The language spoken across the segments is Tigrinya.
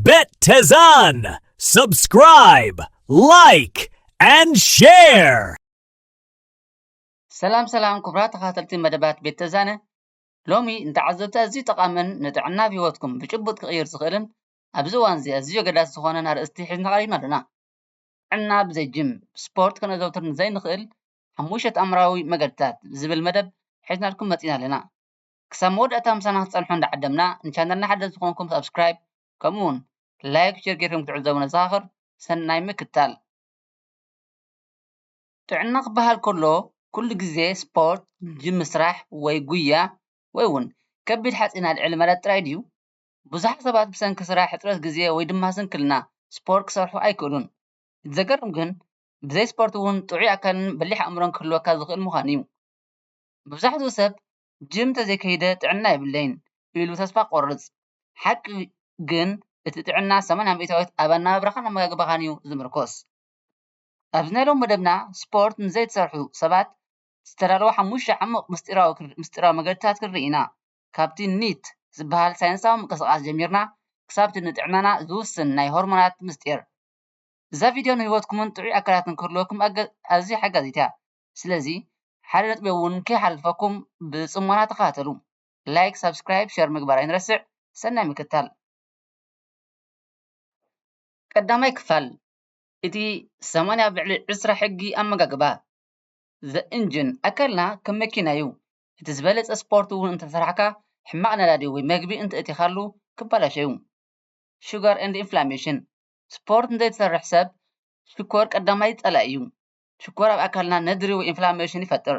Bet Tezan! Subscribe, like, and share! ሰላም ሰላም ክቡራት ተኸታተልቲ መደባት ቤት ተዛነ ሎሚ ንተዓዘብቲ ኣዝዩ ጠቓምን ንጥዕና ኣብ ህይወትኩም ብጭቡጥ ክቕይር ዝኽእልን ኣብዚ እዋን እዚ ኣዝዩ ኣገዳሲ ዝኾነን ኣርእስቲ ሒዝና ቀሪብና ኣለና ጥዕና ብዘይ ጅም ስፖርት ከነዘውትር ንዘይንኽእል ሓሙሽተ ተኣምራዊ መገድታት ዝብል መደብ ሒዝናልኩም መፂና ኣለና ክሳብ መወዳእታ ምሳና ክትጸንሑ እንዳዓደምና ንቻነልና ሓደስቲ ዝኾንኩም ሳብስክራይብ ከምኡ ውን ላይክ ሸር ጌርኩም ክትዕዘቡ ነዘኻኽር ሰናይ ምክታል። ጥዕና ክበሃል ከሎ ኩሉ ግዜ ስፖርት፣ ጅም ምስራሕ ወይ ጉያ ወይ ውን ከቢድ ሓጺን ኣልዕል ማለት ጥራይ ድዩ? ብዙሓት ሰባት ብሰንኪ ስራሕ፣ ሕጽረት ግዜ ወይ ድማ ስንክልና ስፖርት ክሰርሑ ኣይክእሉን። እቲ ዘገርም ግን ብዘይ ስፖርት ውን ጥዑይ ኣካልን በሊሕ ኣእምሮን ክህልወካ ዝኽእል ምዃኑ'ዩ። መብዛሕትኡ ሰብ ጅም እንተዘይከይደ ጥዕና የብለይን ኢሉ ተስፋ ክቖርጽ። ሓቂ ግን እቲ ጥዕና ሰማንያ ሚእታዊት ኣብ ኣነባብራኻን ኣመጋግባኻን'ዩ ዝምርኮስ። ኣብዚ ናይ ሎሚ መደብና ስፖርት ንዘይትሰርሑ ሰባት ዝተዳለወ ሓሙሽተ ዓሙቕ ምስጢራዊ መገድታት ክንርኢ ኢና። ካብቲ ኒት ዝበሃል ሳይንሳዊ ምንቅስቓስ ጀሚርና ክሳብ'ቲ ንጥዕናና ዝውስን ናይ ሆርሞናት ምስጢር። እዛ ቪድዮ ንህይወትኩምን ጥዑይ ኣካላትን ክህልወኩም ኣዝያ ሓጋዚት'ያ። ስለዚ ሓደ ነጥቢ ውን ከይሓልፈኩም ብጽሞና ተኸታተሉ ላይክ ሳብስክራይብ ሸር ምግባር ኣይንረስዕ ሰናይ ምክትታል። ቀዳማይ ክፋል እቲ ሰማንያ ኣብ ልዕሊ ዕስራ ሕጊ ኣመጋግባ The Engine ኣካልና ከም መኪና እዩ እቲ ዝበለጸ ስፖርት እውን እንተሰራሕካ ሕማቕ ነዳዲ ወይ መግቢ እንተእቲኻሉ ክበላሾ እዩ Sugar and Inflammation ስፖርት ንዘይትሰርሕ ሰብ ሽኮር ቀዳማይ ጸላኢ እዩ ሽኮር ኣብ ኣካልና ነድሪ ወይ ኢንፍላመሽን ይፈጥር።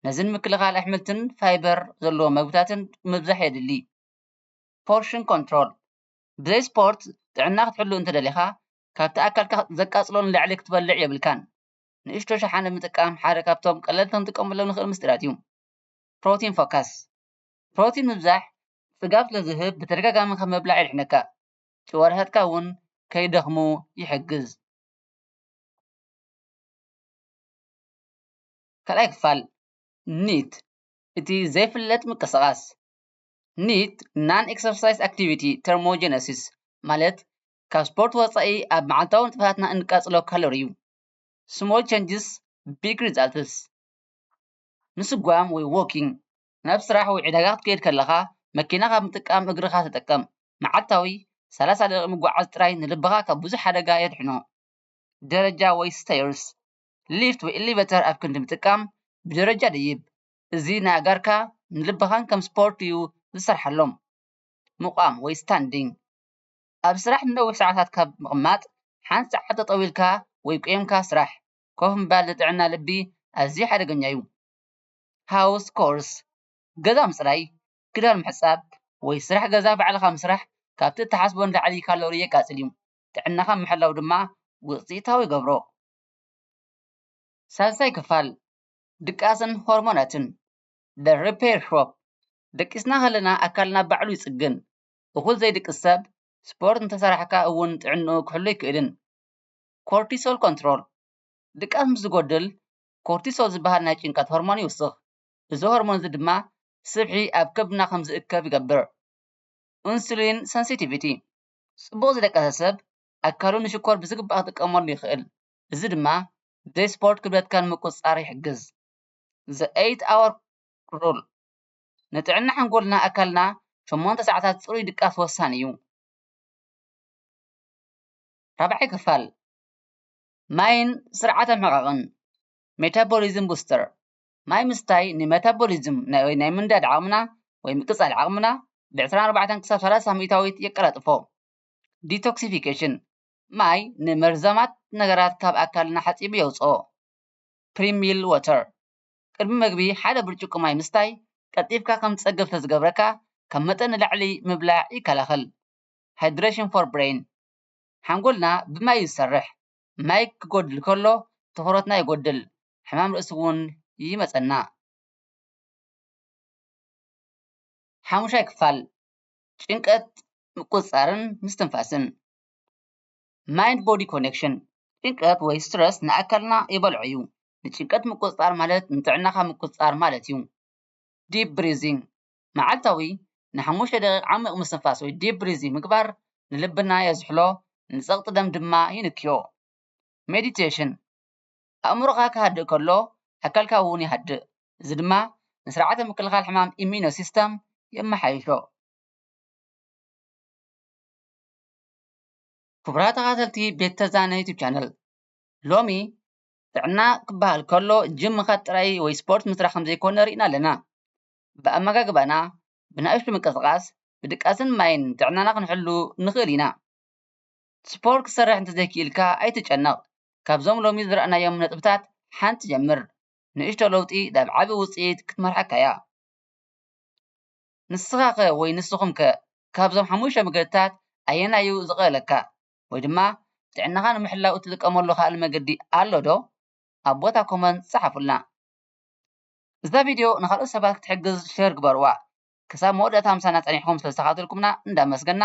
ነዚ ንምክልኻል ኣሕምልትን ፋይበር ዘለዎም መግብታትን ምብዛሕ የድሊ። ፖርሽን ኮንትሮል፣ ብዘይ ስፖርት ጥዕና ክትሕሉ እንተደሊኻ ካብቲ ኣካልካ ዘቃጽሎ ንላዕሊ ክትበልዕ የብልካን። ንእሽቶ ሸሓነ ምጥቃም ሓደ ካብቶም ቀለልቲ ክንጥቀመሎም ንኽእል ምስጢራት እዩ። ፕሮቲን ፎከስ፣ ፕሮቲን ምብዛሕ ጽጋብ ስለዝህብ ብተደጋጋሚ ካብ ምብላዕ የድሕነካ፣ ጭዋዳታትካ እውን ከይደኽሙ ይሕግዝ። ካልኣይ ክፋል ኒት እቲ ዘይፍለጥ ምቅስቃስ ኒት ናን ኤክሰርሳይዝ ኣክቲቪቲ ተርሞጀነሲስ ማለት ካብ ስፖርት ወፃኢ ኣብ መዓልታዊ ንጥፈታትና እንቃፅሎ ካሎሪ እዩ። ስሞል ቸንጅስ ቢግ ሪዛልትስ ምስጓም ወይ ዎኪንግ ናብ ስራሕ ወይ ዕዳጋ ክትከይድ ከለኻ መኪና ካብ ምጥቃም እግርኻ ተጠቀም። መዓልታዊ ሰላሳ ደቂቅ ምጉዓዝ ጥራይ ንልብኻ ካብ ብዙሕ ሓደጋ የድሕኖ። ደረጃ ወይ ስተይርስ፣ ሊፍት ወይ ኤሊቨተር ኣብ ክንዲ ምጥቃም ብደረጃ ደይብ። እዚ ንኣእጋርካ ንልብኻን ከም ስፖርት እዩ ዝሰርሓሎም። ምቛም ወይ ስታንዲንግ፣ ኣብ ስራሕ ንነዊሕ ሰዓታት ካብ ምቕማጥ ሓንቲ ሰዓት ጠጠው ኢልካ ወይ ቈይምካ ስራሕ። ኮፍ ምባል ንጥዕና ልቢ ኣዝዩ ሓደገኛ እዩ። ሃውስ ኮርስ፣ ገዛ ምጽራይ፣ ክዳን ምሕጻብ ወይ ስራሕ ገዛ ባዕልኻ ምስራሕ ካብቲ እትሓስቦ ንላዕሊ ካሎሪ የቃጽል እዩ። ጥዕናኻ ምሕላው ድማ ውጽኢታዊ ይገብሮ። ሳልሳይ ክፋል፣ ድቃስን ሆርሞናትን፣ The Repair Shop፣ ደቂስና ከለና ኣካልና ባዕሉ ይጽግን። እኹል ዘይድቅስ ሰብ ስፖርት እንተሰራሕካ እውን ጥዕንኡ ክሕሉ ኣይክእልን። Cortisol Control፣ ድቃስ ምስ ዝጎድል ኮርቲሶል ዝበሃል ናይ ጭንቀት ሆርሞን ይውስኽ። እዚ ሆርሞን እዚ ድማ ስብሒ ኣብ ከብድና ከም ዝእከብ ይገብር። Insulin Sensitivity፣ ጽቡቕ ዝደቀሰ ሰብ ኣካሉ ንሽኮር ብዝግባእ ክጥቀመሉ ይኽእል፣ እዚ ድማ ብዘይ ስፖርት ክብደትካ ንምቁጽጻር ይሕግዝ። The Eight Hour Rule፣ ንጥዕና ሓንጎልና ኣካልና ሸሞንተ ሰዓታት ጽሩይ ድቃስ ወሳኒ እዩ። ራብዓይ ክፋል፣ ማይን ስርዓተ ምሕቓቕን፣ Metabolism Booster፣ ማይ ምስታይ ንመታቦሊዝም ወይ ናይ ምንዳድ ዓቕምና ወይ ምቅጻል ዓቕምና ብዕስራን ኣርባዕተን ክሳብ ሰላሳ ሚእታዊት የቀላጥፎ። ዲቶክሲፊኬሽን፣ ማይ ንመርዛማት ነገራት ካብ ኣካልና ሓጺቡ የውጽኦ። ፕሪ-ሚል ዋተር፣ ቅድሚ መግቢ ሓደ ብርጭቆ ማይ ምስታይ ቀልጢፍካ ከም ትጸግብ ስለ ዝገብረካ ካብ መጠን ንላዕሊ ምብላዕ ይከላኸል። ሃይድረሽን ፎር ብረይን፣ ሓንጎልና ብማይ እዩ ዝሰርሕ። ማይ ክጎድል ከሎ ትኹረትና ይጎድል ሕማም ርእሲ ውን ይመጸና። ሓሙሻይ ክፋል ጭንቀት ምቁጽጻርን ምስትንፋስን Mind Body Connection ጭንቀት ወይ ስትረስ ንኣካልና ይበልዖ እዩ። ንጭንቀት ምቁጽጻር ማለት ንጥዕናኻ ምቁጽጻር ማለት እዩ። Deep Breathing መዓልታዊ ንሓሙሽተ ደቒቕ ዓሚቝ ምስትንፋስ ወይ ዲፕ ብሪዚንግ ምግባር ንልብና የዝሕሎ፣ ንጸቕጢ ደም ድማ ይንክዮ። ሜዲቴሽን ኣእምሮኻ ክሃድእ ከሎ ኣካልካ እውን ይሃድእ፣ እዚ ድማ ንስርዓተ ምክልኻል ሕማም፣ ኢሚዩኖ ሲስተም፣ የመሓይሾ። ክቡራት ተኸታተልቲ ቤት ተዛነ ዩቱብ ቻነል፣ ሎሚ ጥዕና ክበሃል ከሎ ጂም ምኻድ ጥራይ ወይ ስፖርት ምስራሕ ከም ዘይኮነ ርኢና ኣለና። ብኣመጋግባና፣ ብናእሽቱ ምንቅስቓስ፣ ብድቃስን ማይን ጥዕናና ክንሕሉ ንኽእል ኢና። ስፖርት ክትሰርሕ እንተዘይክኢልካ ኣይትጨነቕ፣ ካብዞም ሎሚ ዝረኣናዮም ነጥብታት ሓንቲ ጀምር፣ ንእሽቶ ለውጢ ናብ ዓቢ ውጽኢት ክትመርሓካ'ያ። ንስኻ'ኸ ወይ ንስኹም'ከ ካብዞም ሓሙሽተ መገድታት ኣየናይ'ዩ ዝቐለለካ? ወይ ድማ ጥዕናኻ ንምሕላው እትጥቀመሉ ካልእ መገዲ ኣሎዶ? ኣብ ቦታ ኮመንት ጸሓፉልና። እዛ ቪድዮ ንኻልኦት ሰባት ክትሕግዝ ሸር ግበርዋ። ክሳብ መወዳእታ ምሳና ጸኒሕኩም ስለዝተኻታተልኩምና እንዳመስገና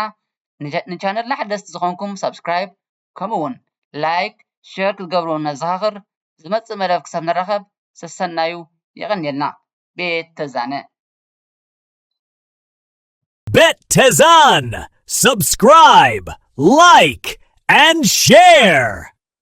ንቻነልና ሓደስቲ ዝኾንኩም ሳብስክራይብ ከምኡ ውን ላይክ ሸር ክትገብሩ ነዘኻኽር ዝመጽእ መደብ ክሳብ ንራኸብ ሰሰናዩ የቐንየልና ቤት ተዛነ። Bet Tezan! Subscribe, like, and share!